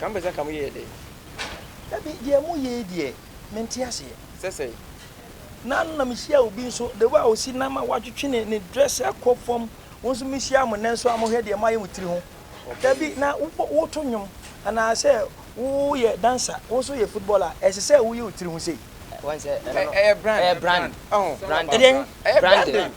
Ka mpɛ sɛ nka moyɛɛ dɛ. Dabi, deɛ moyɛ yi deɛ, mente aseɛ. Sɛ sɛn? Nna no na mehyia obi nso, the way a ɔsi nam a watwetwe ne ne dress akɔ fam, wo nso mehyia mo nnɛ nso a mohwɛ deɛ moayɛ mo tiri ho. Dabi, na wobɔ, woto nnwom, anaa sɛ woyɛ dancer, wo nso woyɛ footballer a, ɛsɛ sɛ woyɛ wo tiri ho sei? Ɛ, woahu sɛ ɛno no. Ɛ, ɛyɛ brand. Ɛyɛ brand. Ɔho. Branding. Ɛdeɛn? Ɛyɛ branding. Branding.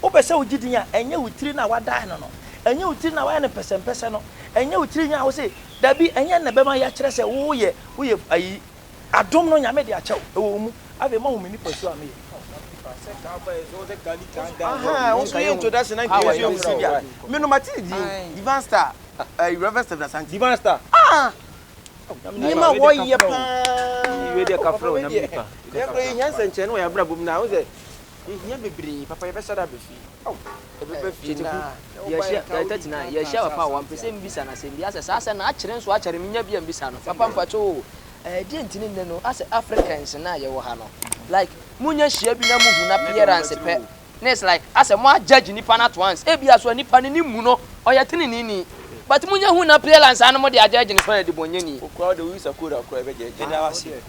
Wopɛ sɛ wogye din a, ɛnyɛ wo tiri no a woadae no no, ɛnyɛ wo tiri no a woayɛ no pɛsɛmpɛsɛ no, ɛnyɛ wo tiri nwi a wose dabi, ɛnyɛ na ɛbɛma yɛakyerɛ sɛ woyɛ, woyɛ ayi. Adom no Nyame de akyɛ wo, ɛwɔ wo mu. Afei ma wohu me nipasu a meyɛ. Ahaa, wo nso yɛ introduction na nka yɛnso yɛnsi bi a. Me no mate ne din, Divan Star, eh, Rev. Stephen Asante. Divan Star. Ah! Nneɛma a wɔyɛ paa. Wei deɛ ɛka frɛ wo Nyame nipa. Yɛn koraa yɛhia nsɛnkyerɛnne wɔ yɛn abrabɔ mu na wohu sɛ Yɛhia bebree papa yɛbɛsa da aba fie. Ɛbɛba fie na wo ba yɛ nka wodi nka nka asase ase a. Mpɛsɛ mbisa no asɛm bi asɛ saa asɛm no akyere nso akyɛre me nya bi a mbisa no papa mpakyɛw o ɛɛ deɛ nti ne nnɛ no asɛ Africans no a yɛwɔ ha no like mo nya hyia bi na mo hu n'appearance pɛ na it's like asɛ mo a judge nipa no at once ebia so a nipa no ne mu no ɔyɛ teneneni but mo nya hu n'appearance a na mo de a judge no sɛ ɔyɛ debɔnyɛni. Wo koraa wo de wo yi sakora koraa yɛbɛ judge yɛda wo ase.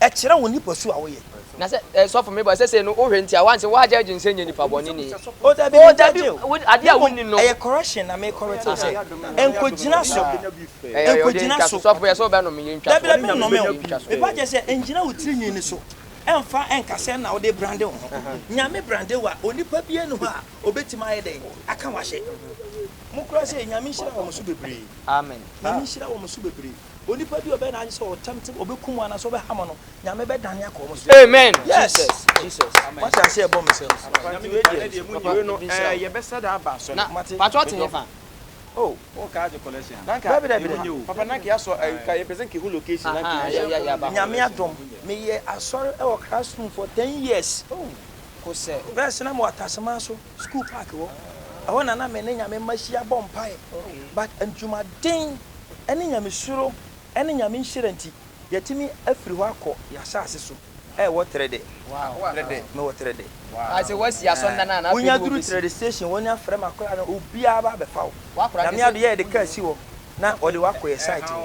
Ɛkyerɛ wo nipasu a woyɛ. Na sɛ eh sɔfo me bɔ ɛsɛ sɛ no wo hwɛ ntia wanse wa judge nsɛ nyɛ nipa bɔ ne ni. Oh dabi me judge o wo ade a wo ni no. Ɛyɛ correction na me correct wo sɛ ɛnko gyina so ɛnko gyina so. Sɔfo yɛ sɛ wo bɛ nome yɛ ntwa so. Dabi dabi me nome o me pa kyɛ sɛ ɛngyina wo tiri nwi no so ɛnfa ɛnka sɛ na wo de brande wo ho nyame brande wo a onipa bia ni hɔ a obetimi ayɛ dɛn aka wahye mo kora sɛ nyame nhyira wɔn so bebree amen nyame nhyira wɔn so bebree. Onipa bi a ɔbɛyɛ n'ade sɛ ɔtɛmte ɔbɛku mo anaasɛ ɔbɛha mo no, Nyame bɛdane akɔ wɔn so. Amen. Yes! Wate aseɛ ɛbɔ me sɛ. Pakyɛ ɔte he fa? Oh, oh car de collection. Nanka. Dabi dabi dabi. Papa nanka ya sɔ eh ka yɛpɛ sɛ nka ehu location na nka yɛ yɛ yɛ ba. Nyame adom me yɛ asɔre ɛwɔ classroom for ten years. Oh. Kosɛ. Bɛɛ sena mo wɔ Ataseman so. School park hɔ, ɛhɔ na na me ne Nyame mma hyia bɔ mpaeɛ but adwumaden ne Nyamesuro ne Nyame nhyira nti yɛatumi afiri hɔ akɔ yɛn asase so a ɛwɔ Trɛdɛ. Mewɔ Trɛdɛ. Wonya duru Trɛdɛ station wɔn afrɛ m'akoraa no obiara aba abɛfa wo. Nyame adom yɛde car si hɔ na wɔde wo akɔ yɛn site hɔ.